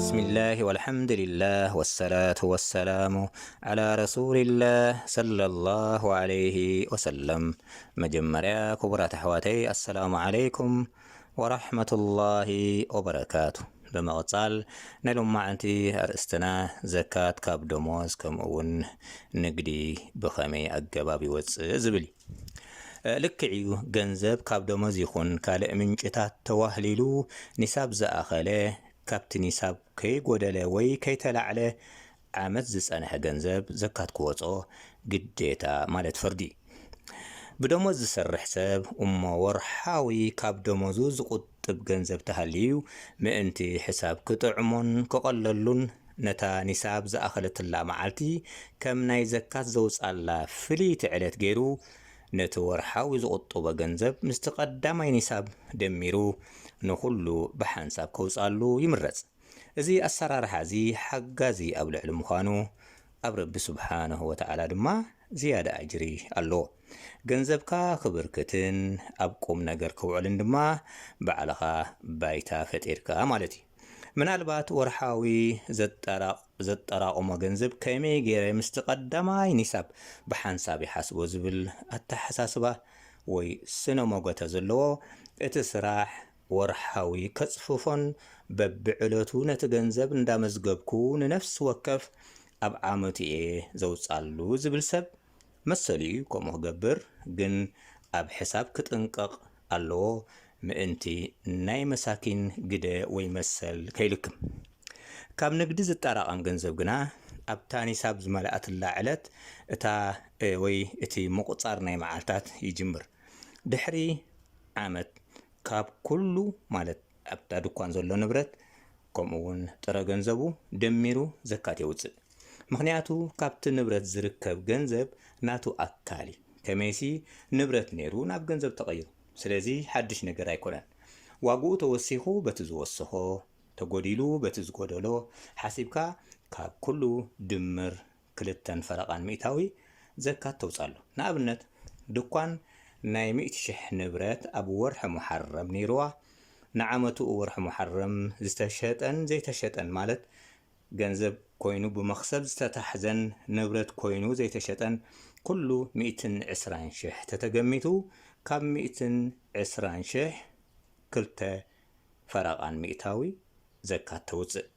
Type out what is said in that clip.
ብስሚላህ ወልሓምዱሊላህ ወሰላቱ ወሰላሙ ዓላ ረሱሊላህ ሰለላሁ ዓለይሂ ወሰለም። መጀመርያ ክቡራት ኣሕዋተይ ኣሰላሙ ዓለይኩም ወራሕመቱላሂ ወበረካቱ። ብምቕጻል ናይ ሎማዓንቲ ኣርእስትና ዘካት ካብ ደሞዝ ከምኡ'ውን ንግዲ ብኸመይ ኣገባብ ይወጽእ ዝብል እዩ። ልክዕ እዩ ገንዘብ ካብ ደሞዝ ይኹን ካልእ ምንጭታት ተዋህሊሉ ኒሳብ ዝኣኸለ ካብቲ ኒሳብ ከይጎደለ ወይ ከይተላዕለ ዓመት ዝጸንሐ ገንዘብ ዘካት ክወጾ ግዴታ ማለት ፍርዲ ብደሞዝ ዝሰርሕ ሰብ እሞ ወርሓዊ ካብ ደሞዙ ዝቁጥብ ገንዘብ ተሃልዩ ምእንቲ ሕሳብ ክጥዕሞን ክቐለሉን ነታ ኒሳብ ዝኣኸለትላ መዓልቲ ከም ናይ ዘካት ዘውጽኣላ ፍልይቲ ዕለት ገይሩ ነቲ ወርሓዊ ዝቑጥቦ ገንዘብ ምስቲ ቀዳማይ ኒሳብ ደሚሩ ንኹሉ ብሓንሳብ ከውጽኣሉ ይምረጽ። እዚ ኣሰራርሓ እዚ ሓጋዚ ኣብ ልዕሊ ምዃኑ ኣብ ረቢ ሱብሓነሁ ወተዓላ ድማ ዝያዳ ኣጅሪ ኣለዎ። ገንዘብካ ክብርክትን ኣብ ቁም ነገር ክውዕልን ድማ ባዕልኻ ባይታ ፈጢርካ ማለት እዩ። ምናልባት ወርሓዊ ዘጠራቕሞ ገንዘብ ከመይ ገይረ ምስቲ ቀዳማይ ኒሳብ ብሓንሳብ ይሓስቦ ዝብል ኣተሓሳስባ ወይ ስነ ሞገተ ዘለዎ እቲ ስራሕ ወርሓዊ ከጽፍፎን በብዕለቱ ነቲ ገንዘብ እንዳመዝገብኩ ንነፍሲ ወከፍ ኣብ ዓመቱ'የ ዘውጻሉ ዝብል ሰብ መሰሉ እዩ ከምኡ ክገብር ግን ኣብ ሕሳብ ክጥንቀቅ ኣለዎ ምእንቲ ናይ መሳኪን ግደ ወይ መሰል ከይልክም ካብ ንግዲ ዝጣራቀም ገንዘብ ግና ኣብታ ኒሳብ ዝመለኣትላ ዕለት እታ ወይ እቲ ምቁጻር ናይ መዓልታት ይጅምር ድሕሪ ዓመት ካብ ኩሉ ማለት ኣብታ ድኳን ዘሎ ንብረት ከምኡ እውን ጥረ ገንዘቡ ደሚሩ ዘካት የውጽእ። ምኽንያቱ ካብቲ ንብረት ዝርከብ ገንዘብ ናቱ ኣካል እዩ። ከመይሲ ንብረት ነይሩ ናብ ገንዘብ ተቐይሩ። ስለዚ ሓድሽ ነገር ኣይኮነን። ዋግኡ ተወሲኹ በቲ ዝወሰኾ፣ ተጎዲሉ በቲ ዝጎደሎ ሓሲብካ ካብ ኩሉ ድምር ክልተን ፈረቓን ሚእታዊ ዘካት ተውጽኣሉ። ንኣብነት ድኳን ናይ ሚእቲ ሽሕ ንብረት ኣብ ወርሒ ሙሓረም ነይሩዋ፣ ንዓመትኡ ወርሒ ሙሓረም ዝተሸጠን ዘይተሸጠን ማለት ገንዘብ ኮይኑ ብመኽሰብ ዝተታሕዘን ንብረት ኮይኑ ዘይተሸጠን ኩሉ ሚእትን ዕስራን ሽሕ ተተገሚቱ ካብ ሚእትን ዕስራን ሽሕ ክልተ ፈረቓን ሚእታዊ ዘካት ተውጽእ።